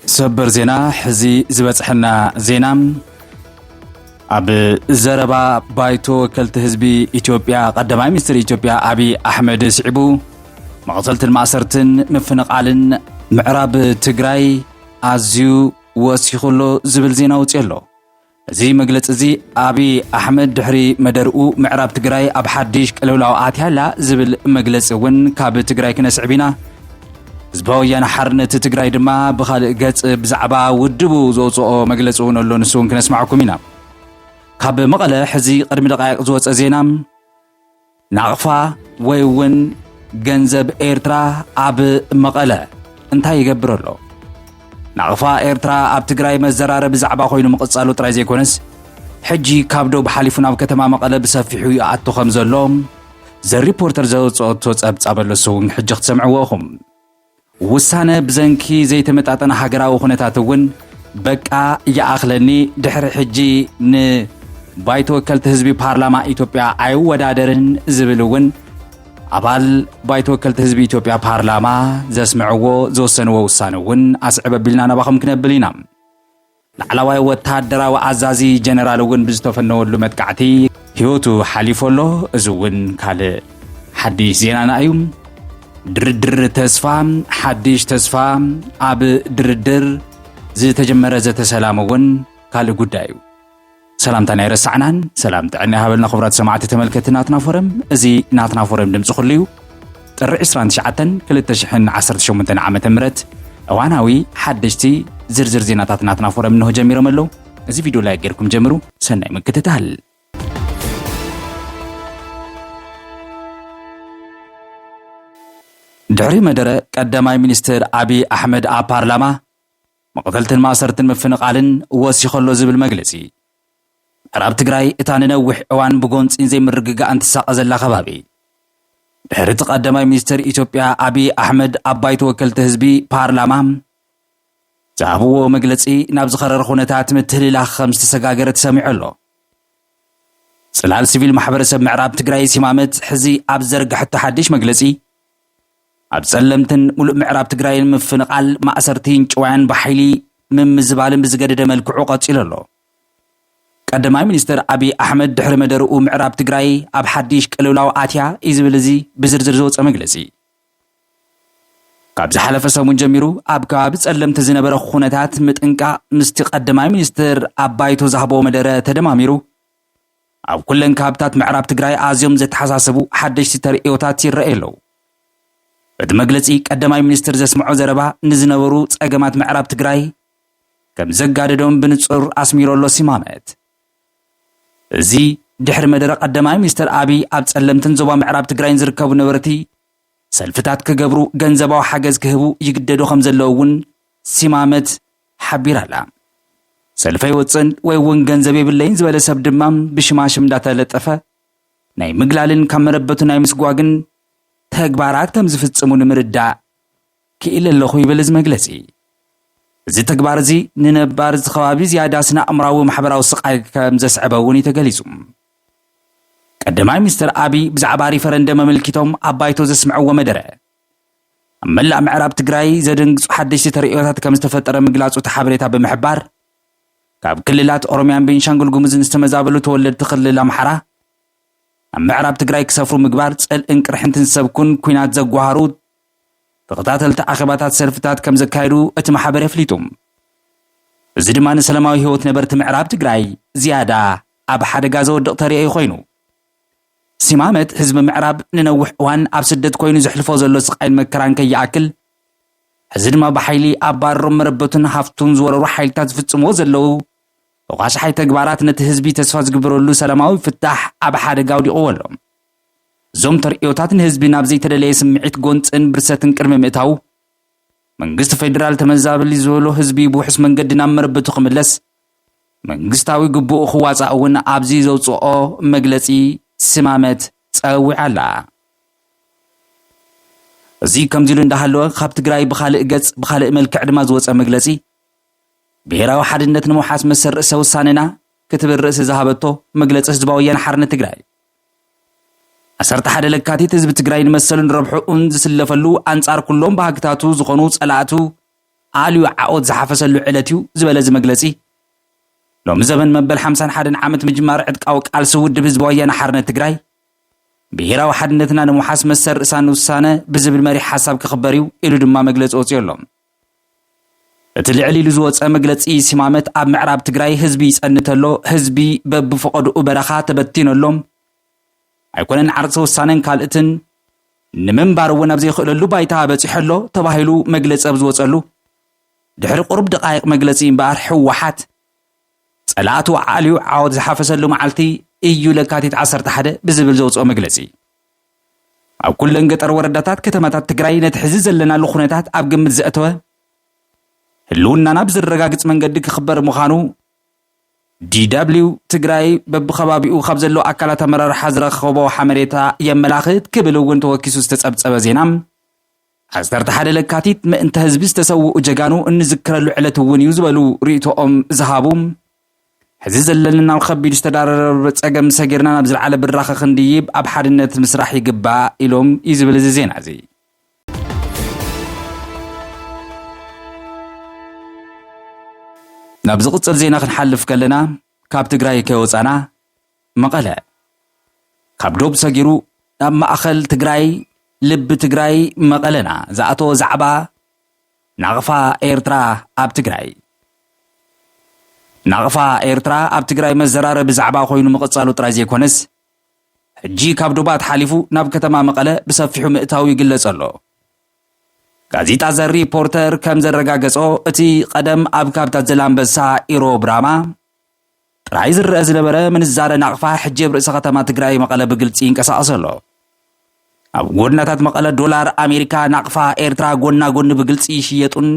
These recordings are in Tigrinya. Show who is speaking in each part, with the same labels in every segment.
Speaker 1: ሰበር ዜና ሕዚ ዝበፅሐና ዜና ኣብ ዘረባ ባይቶ ወከልቲ ህዝቢ ኢትዮጵያ ቀዳማይ ሚኒስትር ኢትዮጵያ ኣብዪ ኣሕመድ ስዒቡ መቕተልትን ማእሰርትን ምፍንቓልን ምዕራብ ትግራይ ኣዝዩ ወሲኹ ኣሎ ዝብል ዜና ወፂኡ ኣሎ። እዚ መግለፂ እዚ ኣብይ ኣሕመድ ድሕሪ መደርኡ ምዕራብ ትግራይ ኣብ ሓድሽ ቅልውላው ኣትያ ኣላ ዝብል መግለፂ እውን ካብ ትግራይ ክነስዕብ ኢና። ህዝባዊ ወያነ ሓርነት ትግራይ ድማ ብኻልእ ገፅ ብዛዕባ ውድቡ ዘውፅኦ መግለፂ እውን ኣሎ ንሱ እውን ክነስማዕኩም ኢና። ካብ መቐለ ሕዚ ቅድሚ ደቃይቕ ዝወፀ ዜና ናቕፋ ወይ እውን ገንዘብ ኤርትራ ኣብ መቐለ እንታይ ይገብር ኣሎ? ናቕፋ ኤርትራ ኣብ ትግራይ መዘራረቢ ዛዕባ ኮይኑ ምቕጻሉ ጥራይ ዘይኮነስ ሕጂ ካብ ዶብ ሓሊፉ ናብ ከተማ መቐለ ብሰፊሑ ይኣቱ ከም ዘሎ ዘ ሪፖርተር ዘውጽኦቶ ጸብጻብ ኣለሶ እውን ሕጂ ክትሰምዕዎ ኢኹም። ውሳነ ብዘንኪ ዘይተመጣጠነ ሃገራዊ ኩነታት እውን በቃ ይኣኽለኒ ድሕሪ ሕጂ ን ባይቶ ወከልቲ ህዝቢ ፓርላማ ኢትዮጵያ ኣይወዳደርን ዝብል እውን ኣባል ባይቶ ወከልቲ ህዝቢ ኢትዮጵያ ፓርላማ ዘስምዕዎ ዝወሰንዎ ውሳነ እውን ኣስዕብ ኣቢልና ናባኹም ክነብል ኢና። ላዕላዋይ ወተሃደራዊ ኣዛዚ ጀነራል እውን ብዝተፈነወሉ መጥቃዕቲ ህይወቱ ሓሊፉ ኣሎ። እዚ እውን ካልእ ሓድሽ ዜናና እዩ። ድርድር ተስፋ ሓድሽ ተስፋ ኣብ ድርድር ዝተጀመረ ዘተ ሰላም እውን ካልእ ጉዳይ እዩ። ሰላምታን ኣይረሳዕናን ሰላም ጥዕና ይሃበልና ክቡራት ሰማዕቲ ተመልከቲ ናትና ፎረም እዚ ናትና ፎረም ድምፂ ኩሉ እዩ ጥሪ 29 2018 ዓ ም እዋናዊ ሓደሽቲ ዝርዝር ዜናታት ናትና ፎረም እንሆ ጀሚሮም ኣለዉ እዚ ቪድዮ ላይ ጌርኩም ጀምሩ ሰናይ ምክትታል ድሕሪ መደረ ቀዳማይ ሚኒስትር ኣብዪ ኣሕመድ ኣብ ፓርላማ መቕተልትን ማእሰርትን ምፍንቓልን ወሲኹ ኣሎ ዝብል መግለጺ፣ ምዕራብ ትግራይ እታ ንነዊሕ እዋን ብጎንጺን ዘይምርግጋእን ትሳቐ ዘላ ከባቢ፣ ድሕሪ እቲ ቀዳማይ ሚኒስተር ኢትዮጵያ ኣብይ ኣሕመድ ኣብ ባይቶ ወከልቲ ህዝቢ፣ ፓርላማ፣ ዝሃብዎ መግለጺ ናብ ዝኸረረ ኩነታት ምትህልላኽ ከም ዝተሰጋገረ ተሰሚዑ ኣሎ። ጽላል ሲቪል ማሕበረሰብ ምዕራብ ትግራይ ሲማመት ሕዚ ኣብ ዝዘርገሐቶ ሓድሽ መግለጺ፣ ኣብ ፀለምትን ሙሉእ ምዕራብ ትግራይን ምፍንቓል፣ ማእሰርቲን ጭዋያን ብሓይሊ ምምዝባልን ብዝገደደ መልክዑ ቀፂሉ ኣሎ። ቀዳማይ ሚኒስትር ኣብይ ኣሕመድ ድሕሪ መደርኡ ምዕራብ ትግራይ ኣብ ሓዲሽ ቅልውላው ኣትያ እዩ ዝብል እዚ ብዝርዝር ዝወፀ መግለፂ፣ ካብ ዝሓለፈ ሰሙን ጀሚሩ ኣብ ከባቢ ፀለምቲ ዝነበረ ኹነታት ምጥንቃቕ ምስቲ ቀዳማይ ሚኒስትር ኣብ ባይቶ ዝሃቦ መደረ ተደማሚሩ፣ ኣብ ኩለን ከባብታት ምዕራብ ትግራይ ኣዝዮም ዘተሓሳስቡ ሓደሽቲ ተርእዮታት ይረኣዩ ኣለዉ። በቲ መግለጺ ቀዳማይ ሚኒስትር ዘስምዖ ዘረባ ንዝነበሩ ጸገማት ምዕራብ ትግራይ ከምዘጋደዶም ብንጹር ኣስሚሩ ኣሎ ሲማመት። እዚ ድሕሪ መደረ ቀዳማይ ሚኒስትር ኣብይ ኣብ ጸለምትን ዞባ ምዕራብ ትግራይን ዝርከቡ ነበርቲ ሰልፍታት ክገብሩ ገንዘባዊ ሓገዝ ክህቡ ይግደዱ ከም ዘለዉ እውን ሲማመት ሓቢራ ኣላ። ሰልፊ ኣይወፅእን ወይ እውን ገንዘብ የብለይን ዝበለ ሰብ ድማ ብሽማሽም እንዳተለጠፈ ናይ ምግላልን ካብ መረበቱ ናይ ምስጓግን ተግባራት ከም ዝፍፅሙ ንምርዳእ ክኢለ ኣለኹ ይብል እዚ መግለጺ። እዚ ተግባር እዚ ንነባሪ እዚ ከባቢ ዝያዳ ስነ-ኣእምራዊ ማሕበራዊ ስቓይ ከም ዘስዐበ እውን እዩ ተገሊጹ። ቀዳማይ ሚኒስተር ኣቢይ ብዛዕባ ሪፈረንደም ኣመልኪቶም ኣብ ባይቶ ዘስምዕዎ መደረ፣ ኣብ መላእ ምዕራብ ትግራይ ዘደንግጹ ሓደሽቲ ተርእዮታት ከም ዝተፈጠረ ምግላጹ እቲ ሓበሬታ ብምሕባር፣ ካብ ክልላት ኦሮምያን ቤንሻንጉል ጉሙዝን ዝተመዛበሉ ተወለድቲ ክልል ኣምሓራ ኣብ ምዕራብ ትግራይ ክሰፍሩ ምግባር፣ ጽልእን ቅርሕንትን ዝሰብኩን ኲናት ዘጓሃሩ ተኸታተልቲ ኣኼባታት ሰልፍታት ከም ዘካየዱ እቲ ማሕበር ኣፍሊጡ። እዚ ድማ ንሰለማዊ ህይወት ነበርቲ ምዕራብ ትግራይ ዝያዳ ኣብ ሓደጋ ዘወድቕ ተርእዮ ኮይኑ። ሲማመት ህዝቢ ምዕራብ ንነዊሕ እዋን ኣብ ስደት ኮይኑ ዘሕልፎ ዘሎ ስቓይን መከራን ከይኣክል፣ ሕዚ ድማ ብሓይሊ ኣባርሮም መረበቱን ሃፍቱን ዝወረሩ ሓይልታት ዝፍጽምዎ ዘለዉ ተኳሻሓይ ተግባራት ነቲ ህዝቢ ተስፋ ዝግበረሉ ሰላማዊ ፍታሕ ኣብ ሓደጋ ኣውዲቕዎ ኣሎ። እዞም ተርእዮታት ንህዝቢ ናብ ዘይተደለየ ስምዒት ጎንፅን ብርሰትን ቅድሚ ምእታዉ መንግስቲ ፌዴራል ተመዛበሊ ዝበሎ ህዝቢ ብውሕስ መንገዲ ናብ መረበቱ ክምለስ መንግስታዊ ግቡኡ ክዋፃእ እውን ኣብዚ ዘውፅኦ መግለፂ ስማመት ፀዊዓ ኣላ። እዚ ከምዚ ኢሉ እንዳሃለወ ካብ ትግራይ ብካልእ ገፅ ብካልእ መልክዕ ድማ ዝወፀ መግለፂ ብሄራዊ ሓድነት ንምውሓስ መሰል ርእሰ ውሳኔና ክትብል ርእሲ ዝሃበቶ መግለፂ ህዝባዊ ወያነ ሓርነት ትግራይ ዓሰርተ ሓደ ለካቲት ህዝቢ ትግራይ ንመሰሉን ረብሕኡን ዝስለፈሉ ኣንጻር ኩሎም ባህግታቱ ዝኾኑ ጸላእቱ ኣልዩ ዓኦት ዝሓፈሰሉ ዕለት እዩ ዝበለ እዚ መግለጺ ሎሚ ዘበን መበል ሓምሳን ሓደን ዓመት ምጅማር ዕጥቃዊ ቃልሲ ውድብ ህዝቢ ወያነ ሓርነት ትግራይ ብሄራዊ ሓድነትና ንምውሓስ መሰል ርእሳን ውሳነ ብዝብል መሪሕ ሓሳብ ክኽበር እዩ ኢሉ ድማ መግለፂ ወፂኡ ኣሎ እቲ ልዕል ኢሉ ዝወፀ መግለፂ ሲማመት ኣብ ምዕራብ ትግራይ ህዝቢ ይፀንት ኣሎ፣ ህዝቢ በብፈቐድኡ በረኻ ተበቲኑ ኣሎ፣ ኣይኮነን ዓርሰ ውሳነን ካልእትን ንምንባር እውን ኣብ ዘይኽእለሉ ባይታ በፂሑ ኣሎ ተባሂሉ መግለፂ ኣብ ዝወፀሉ ድሕሪ ቁሩብ ደቓይቕ መግለፂ እምበኣር ህወሓት ፀላእቱ ኣዕልዩ ዓወት ዝሓፈሰሉ መዓልቲ ኢዩ ለካቲት ዓሰርተ ሓደ ብዝብል ዘውፅኦ መግለፂ ኣብ ኩለን ገጠር ወረዳታት ከተማታት ትግራይ ነቲ ሕዚ ዘለናሉ ኩነታት ኣብ ግምት ዘእተወ ህልውናና ብዘረጋግፅ መንገዲ ክኽበር ምዃኑ DW ትግራይ በብከባቢኡ ካብ ዘለዉ ኣካላት ኣመራርሓ ዝረኸቦ ሓመሬታ የመላኽት ክብል እውን ተወኪሱ ዝተፀብፀበ ዜና ዓሰርተ ሓደ ለካቲት ምእንተ ህዝቢ ዝተሰውኡ ጀጋኑ እንዝክረሉ ዕለት እውን እዩ ዝበሉ ርእይቶኦም ዝሃቡ ሕዚ ዘለኒ ናብ ኸቢድ ዝተዳረረበ ፀገም ሰጊርና ናብ ዝለዓለ ብራኸ ክንድይብ ኣብ ሓድነት ምስራሕ ይግባእ ኢሎም እዩ ዝብል እዚ ዜና እዚ። ናብ ዝቕፅል ዜና ክንሓልፍ ከለና ካብ ትግራይ ከይወፃና መቐለ ካብ ዶብ ሰጊሩ ናብ ማእኸል ትግራይ ልቢ ትግራይ መቐለና ዝኣተወ ዛዕባ ናቕፋ ኤርትራ ኣብ ትግራይ። ናቕፋ ኤርትራ ኣብ ትግራይ መዘራረቢ ዛዕባ ኮይኑ ምቕጻሉ ጥራይ ዘይኮነስ፣ ሕጂ ካብ ዶባት ሓሊፉ ናብ ከተማ መቐለ ብሰፊሑ ምእታዉ ይግለጽ ኣሎ። ጋዜጣ ዘ ሪፖርተር ከም ዘረጋገጾ፣ እቲ ቀደም ኣብ ካብታት ዘላንበሳ፣ ኢሮብ፣ ራማ፣ ጥራይ ዝረኣ ዝነበረ ምንዛረ ናቕፋ ሕጂ ኣብ ርእሰ ከተማ ትግራይ መቐለ ብግልፂ ይንቀሳቐስ ኣሎ። ኣብ ጎድናታት መቐለ ዶላር ኣሜሪካ፣ ናቕፋ ኤርትራ ጎና ጎኒ ብግልፂ ይሽየጡን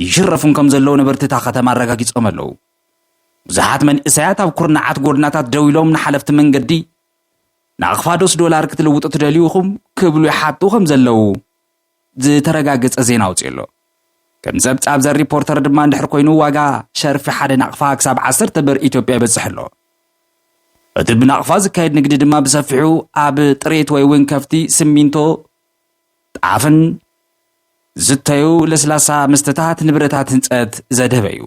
Speaker 1: ይሽረፉን ከም ዘለዉ ነበርቲ እታ ከተማ ኣረጋጊፆም ኣለዉ። ብዙሓት መንእሰያት ኣብ ኩርናዓት ጎድናታት ደው ኢሎም ንሓለፍቲ መንገዲ ናቕፋ ዶስ ዶላር ክትልውጡ ትደልዩ ኢኹም ክብሉ ይሓቱ ከም ዘለዉ ዝተረጋገጸ ዜና ኣውጺኡ ኣሎ። ከም ጸብጻብ ዘ ሪፖርተር ድማ እንድሕር ኮይኑ ዋጋ ሸርፊ ሓደ ናቕፋ ክሳብ ዓሰርተ ብር ኢትዮጵያ ይበጽሕ ኣሎ። እቲ ብናቕፋ ዝካየድ ንግዲ ድማ ብሰፊሑ ኣብ ጥሬት ወይ እውን ከፍቲ፣ ስሚንቶ፣ ጣፍን ዝተዩ ለስላሳ መስተታት ንብረታት ህንፀት ዘድህበ እዩ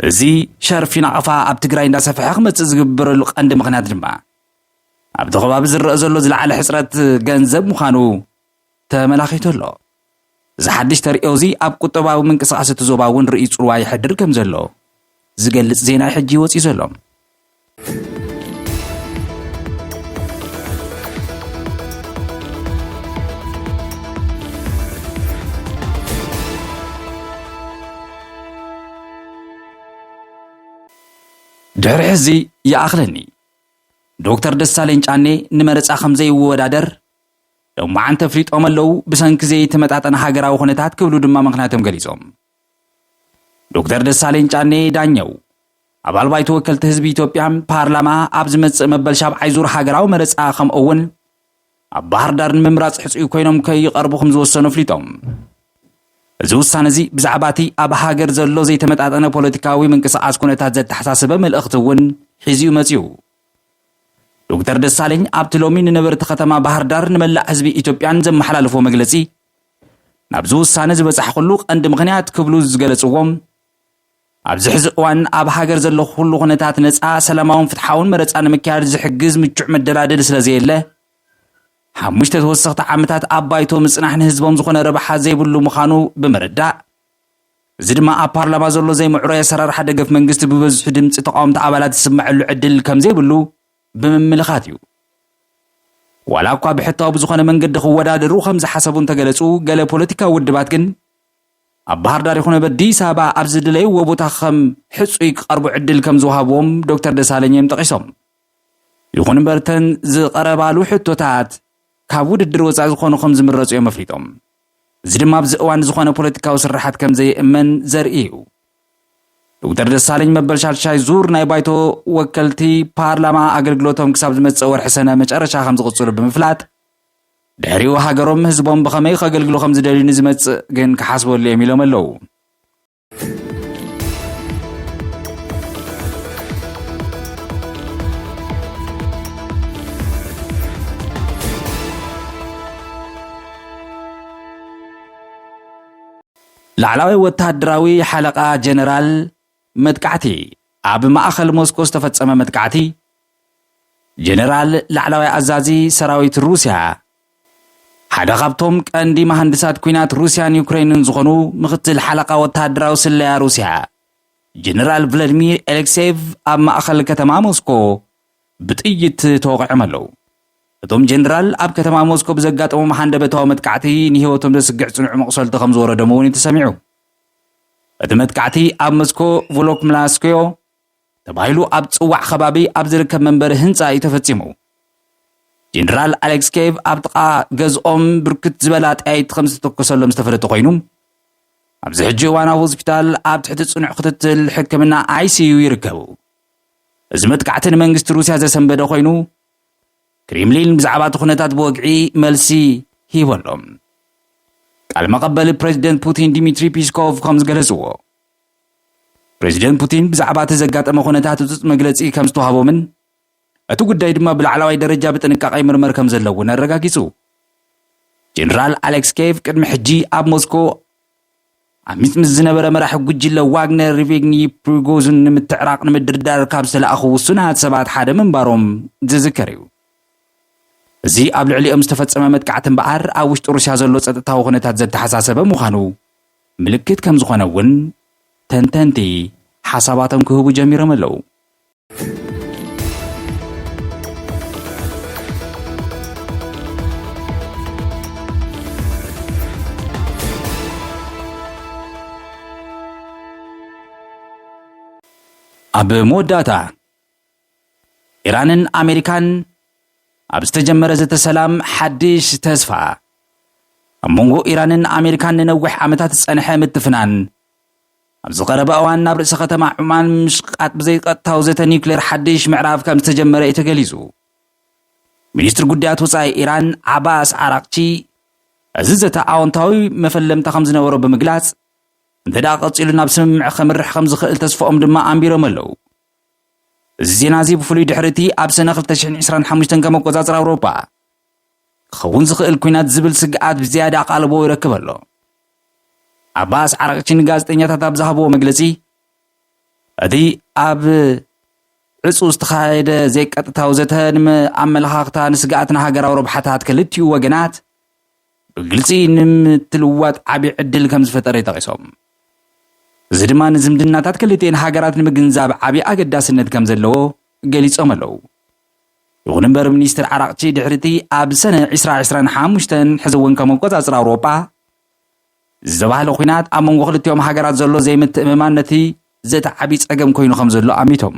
Speaker 1: እዚ ሸርፊ ናቕፋ ኣብ ትግራይ እንዳሰፍሐ ክመፅእ ዝግበረሉ ቀንዲ ምክንያት ድማ ኣብቲ ከባቢ ዝረኣ ዘሎ ዝለዓለ ሕፅረት ገንዘብ ምዃኑ ተመላኺቱ ኣሎ። እዚ ሓድሽ ተርእዮ እዚ ኣብ ቁጠባዊ ምንቅስቓስ እቲ ዞባ እውን ርእይ ፅልዋ የሕድር ከም ዘሎ ዝገልፅ ዜና እዩ ሕጂ ወፂኡ ዘሎ። ድሕሪ ሕዚ ይኣኽለኒ ዶክተር ደሳለኝ ጫኔ ንመረፃ ከምዘይወዳደር ሎማዓንቲ ኣፍሊጦም ኣለው ብሰንኪ ዘይተመጣጠነ ሃገራዊ ኩነታት ክብሉ ድማ ምኽንያቶም ገሊፆም። ዶክተር ደሳለኝ ጫኔ ዳኘው ኣባል ባይቶ ወከልቲ ህዝቢ ኢትዮጵያ፣ ፓርላማ፣ ኣብ ዝመፅእ መበል ሻብዓይ ዙር ሃገራዊ መረፃ ከምኡ'ውን ኣብ ባህርዳር ንምምራፅ ሕፁይ ኮይኖም ከይቐርቡ ከምዝወሰኑ ኣፍሊጦም። እዚ ውሳነ እዚ ብዛዕባ እቲ ኣብ ሃገር ዘሎ ዘይተመጣጠነ ፖለቲካዊ ምንቅስቓስ ኩነታት ዘተሓሳሰበ መልእኽቲ እውን ሒዙ እዩ መፂኡ። ዶክተር ደሳለኝ ኣብቲ ሎሚ ንነበርቲ ከተማ ባህር ዳር ንመላእ ህዝቢ ኢትዮጵያን ዘመሓላለፎ መግለፂ ናብዚ ውሳነ ዝበፃሕኩሉ ቀንዲ ምኽንያት ክብሉ ዝገለፅዎም ኣብዚ ሕዚ እዋን ኣብ ሃገር ዘሎ ኩሉ ኩነታት ነፃ፣ ሰላማውን ፍትሓውን መረፃ ንምክያድ ዝሕግዝ ምቹዕ መደላደሊ ስለዘየለ ሓሙሽተ ተወሰኽቲ ዓመታት ኣብ ባይቶ ምፅናሕ ንህዝቦም ዝኾነ ረብሓ ዘይብሉ ምዃኑ ብምርዳእ እዚ ድማ ኣብ ፓርላማ ዘሎ ዘይምዕሩይ ኣሰራርሓ ደገፍ መንግስቲ ብበዝሑ ድምፂ ተቃወምቲ ኣባላት ዝስመዐሉ ዕድል ከምዘይብሉ ብምምልኻት እዩ። ዋላ እኳ ብሕታዊ ብዝኾነ መንገዲ ክወዳደሩ ከምዝሓሰቡ እንተገለፁ ገለ ፖለቲካዊ ውድባት ግን ኣብ ባህርዳር ይኹን ኣብ ኣዲስ ኣበባ ኣብ ዝደለይዎ ቦታ ከም ሕፁይ ክቐርቡ ዕድል ከም ዝወሃብዎም ዶክተር ደሳለኝ እዮም ጠቒሶም። ይኹን እምበር እተን ዝቐረባሉ ሕቶታት ካብ ውድድር ወፃኢ ዝኾኑ ከም ዝምረፁ እዮም ኣፍሊጦም። እዚ ድማ ኣብዚ እዋን ዝኾነ ፖለቲካዊ ስርሓት ከም ዘየእመን ዘርኢ እዩ። ዶክተር ደሳለኝ መበል ሻድሻይ ዙር ናይ ባይቶ ወከልቲ ፓርላማ ኣገልግሎቶም ክሳብ ዝመጽእ ወርሒ ሰነ መጨረሻ ከም ዝቕጽሉ ብምፍላጥ ድሕሪኡ ሃገሮም ህዝቦም ብኸመይ ከገልግሉ ከም ዝደልዩ ንዝመጽእ ግን ክሓስበሉ እዮም ኢሎም ኣለዉ። ላዕላዊ ወተሃደራዊ ሓለቓ ጀነራል መጥቃዕቲ፣ ኣብ ማእኸል ሞስኮ ዝተፈፀመ መጥቃዕቲ፣ ጀነራል ላዕላዋይ ኣዛዚ ሰራዊት ሩስያ፣ ሓደ ካብቶም ቀንዲ መሃንድሳት ኲናት ሩስያን ዩክሬንን ዝኾኑ ምኽትል ሓለቓ ወተሃደራዊ ስለያ ሩስያ ጀነራል ቭለድሚር ኤሌክሴቭ ኣብ ማእኸል ከተማ ሞስኮ ብጥይት ተወቒዖም ኣለው። እቶም ጀነራል ኣብ ከተማ ሞስኮ ብዘጋጠሞም ሃንደበታዊ መጥቃዕቲ ንህይወቶም ዘስግዕ ፅኑዕ መቑሰልቲ ከምዝወረዶም እውን እዩ ተሰሚዑ። እቲ መጥቃዕቲ ኣብ መስኮ ቮሎክምላስክዮ ተባሂሉ ኣብ ዝጽዋዕ ከባቢ ኣብ ዝርከብ መንበሪ ህንጻ እዩ ተፈጺሙ። ጀነራል ኣሌክስኬቭ ኣብ ጥቓ ገዝኦም ብርክት ዝበላ ጠያይቲ ከም ዝተተኮሰሎም ዝተፈለጠ ኮይኑ ኣብዚ ሕጂ እዋን ኣብ ሆስፒታል ኣብ ትሕቲ ጽኑዕ ክትትል ሕክምና ኣይሲዩ ይርከቡ እዚ መጥቃዕቲ ንመንግስቲ ሩስያ ዘሰንበደ ኮይኑ ክሪምሊን ብዛዕባ'ቲ ኩነታት ብወግዒ መልሲ ሂቡ ኣሎ። ቃል መቐበሊ ፕረዚደንት ፑቲን ዲሚትሪ ፒስኮቭ ከም ዝገለጽዎ፣ ፕረዚደንት ፑቲን ብዛዕባ'ቲ ዘጋጠመ ኩነታት ህጹጽ መግለጺ ከም ዝተዋህቦምን እቲ ጉዳይ ድማ ብላዕለዋይ ደረጃ ብጥንቃቐ ይምርመር ከም ዘለዎን ኣረጋጊጹ። ጀነራል ኣሌክስ ኬቭ ቅድሚ ሕጂ ኣብ ሞስኮ ዓሚፅ ምስ ዝነበረ መራሒ ጉጅለ ዋግነር ሪቬግኒ ፕሪጎዙን ንምትዕራቕ ንምድርዳር ካብ ዝተላእኹ ውሱናት ሰባት ሓደ ምንባሮም ዝዝከር እዩ። እዚ ኣብ ልዕሊኦም ዝተፈጸመ መጥቃዕቲ እምበኣር ኣብ ውሽጢ ሩስያ ዘሎ ጸጥታዊ ኩነታት ዘተሓሳሰበ ምዃኑ ምልክት ከም ዝኾነ እውን ተንተንቲ ሓሳባቶም ክህቡ ጀሚሮም ኣለዉ። ኣብ መወዳእታ ኢራንን ኣሜሪካን ኣብ ዝተጀመረ ዘተ ሰላም ሓድሽ ተስፋ ኣብ መንጎ ኢራንን ኣሜሪካን ንነዊሕ ዓመታት ዝጸንሐ ምትፍናን ኣብዚ ቀረባ እዋን ናብ ርእሰ ከተማ ዑማን ምሽቃጥ ብዘይቀጥታዊ ዘተ ኒውክሌር ሓድሽ ምዕራፍ ከም ዝተጀመረ እዩ ተገሊጹ። ሚኒስትሪ ጉዳያት ወጻኢ ኢራን ዓባስ ዓራቅቺ እዚ ዘተ ኣወንታዊ መፈለምታ ከም ዝነበሮ ብምግላጽ እንተ ደኣ ቀጺሉ ናብ ስምምዕ ከምርሕ ከም ዝኽእል ተስፋኦም ድማ ኣንቢሮም ኣለዉ። እዚ ዜና እዚ ብፍሉይ ድሕሪ እቲ ኣብ ሰነ 2025 ከም ኣቆጻጽራ ኣውሮፓ ክኸውን ዝኽእል ኲናት ዝብል ስግኣት ብዝያዳ ኣቓልቦ ይረክብ ኣሎ። ዓባስ ዓራቕቺ ንጋዜጠኛታት ኣብ ዝሃብዎ መግለጺ፣ እቲ ኣብ ዕጹው ዝተኻየደ ዘይቀጥታዊ ዘተ ንኣመለኻኽታ ንስግኣትን ሃገራዊ ረብሓታት ክልቲኡ ወገናት ብግልጺ ንምትልዋጥ ዓቢ ዕድል ከም ዝፈጠረ ጠቒሶም። እዚ ድማ ንዝምድናታት ክልቲኤን ሃገራት ንምግንዛብ ዓብዪ ኣገዳስነት ከም ዘለዎ ገሊጾም ኣለዉ። ይኹን እምበር ሚኒስትር ዓራቕቺ ድሕሪቲ ኣብ ሰነ ዕስራ ዕስራን ሓሙሽተን ሕዚ እውን ከም ኣቆፃፅራ ኣውሮጳ ዝተባህለ ኩናት ኣብ መንጎ ክልቲኦም ሃገራት ዘሎ ዘይምትእምማን ነቲ ዘተ ዓብዪ ፀገም ኮይኑ ከም ዘሎ ኣሚቶም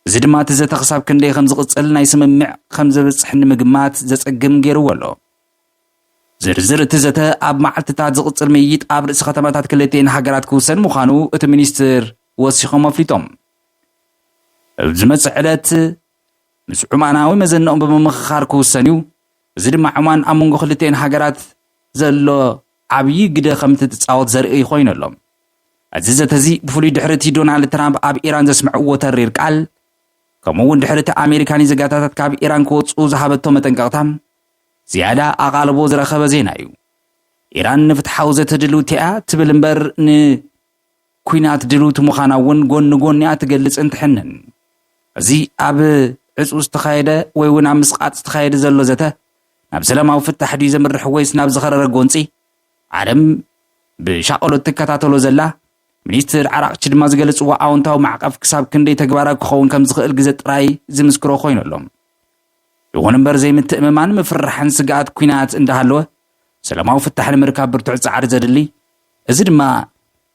Speaker 1: እዚ ድማ እቲ ዘተ ክሳብ ክንደይ ከም ዝቕፅል ናይ ስምምዕ ከም ዘብፅሕ ንምግማት ዘፀግም ገይርዎ ኣሎ ዝርዝር እቲ ዘተ ኣብ መዓልትታት ዝቕፅል ምይይጥ ኣብ ርእሲ ከተማታት ክልቲኤን ሃገራት ክውሰን ምዃኑ እቲ ሚኒስትር ወሲኾም ኣፍሊጦም ኣብ ዝመጽእ ዕለት ምስ ዑማናዊ መዘንኦም ብምምኽኻር ክውሰን'ዩ፣ እዚ ድማ ዑማን ኣብ መንጎ ክልቲኤን ሃገራት ዘሎ ዓብዪ ግደ ከምትጻወት ዘርእይ ኮይኑ ኣሎ። እዚ ዘተ'ዚ ብፍሉይ ድሕሪ'ቲ ዶናልድ ትራምፕ ኣብ ኢራን ዘስምዕዎ ተሪር ቃል ከምኡ'ውን ድሕሪ'ቲ ኣሜሪካ ንዜጋታታት ካብ ኢራን ክወጽኡ ዝሃበቶ መጠንቀቕታ ዝያዳ ኣቓልቦ ዝረኸበ ዜና'ዩ። ኢራን ንፍትሓዊ ዘተ ድልውቲ'ያ ትብል እምበር ን ኩናት ድልውቲ ምዃና እውን ጎኒ ጎኒኣ ትገልጽን ትሕንን። እዚ ኣብ ዕጹው ዝተኻየደ ወይ እውን ኣብ ምስቓጥ ዝተኻየደ ዘሎ ዘተ ናብ ሰላማዊ ፍታሕ ድዩ ዘምርሕ ወይስ ናብ ዝኸረረ ጎንጺ? ዓለም ብሻቐሎት ትከታተሎ ዘላ ሚኒስትር ዓራቕቺ ድማ ዝገለጽዎ ኣውንታዊ ማዕቐፍ ክሳብ ክንደይ ተግባራዊ ክኸውን ከም ዝኽእል ግዘ ጥራይ ዝምስክሮ ኮይኑ ኣሎ። ይኹን እምበር ዘይምትእምማን፣ ምፍርራሕን ስግኣት ኩናት እንዳሃለወ ሰላማዊ ፍታሕ ንምርካብ ብርቱዕ ጻዕሪ ዘድሊ፣ እዚ ድማ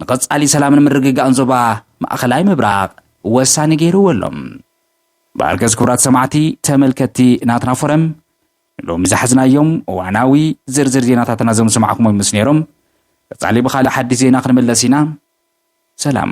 Speaker 1: ንቐጻሊ ሰላምን ምርግጋእን ዞባ ማእከላይ ምብራቕ ወሳኒ ገይርዎ ኣሎ። ብኣልገስ ክቡራት ሰማዕቲ ተመልከትቲ ናትና ፎረም፣ ንሎሚ ዝሓዝናዮም እዋናዊ ዝርዝር ዜናታትና እዞም ዝሰማዕኩሞም ምስ ነይሮም፣ ቀጻሊ ብኻልእ ሓድሽ ዜና ክንምለስ ኢና። ሰላም።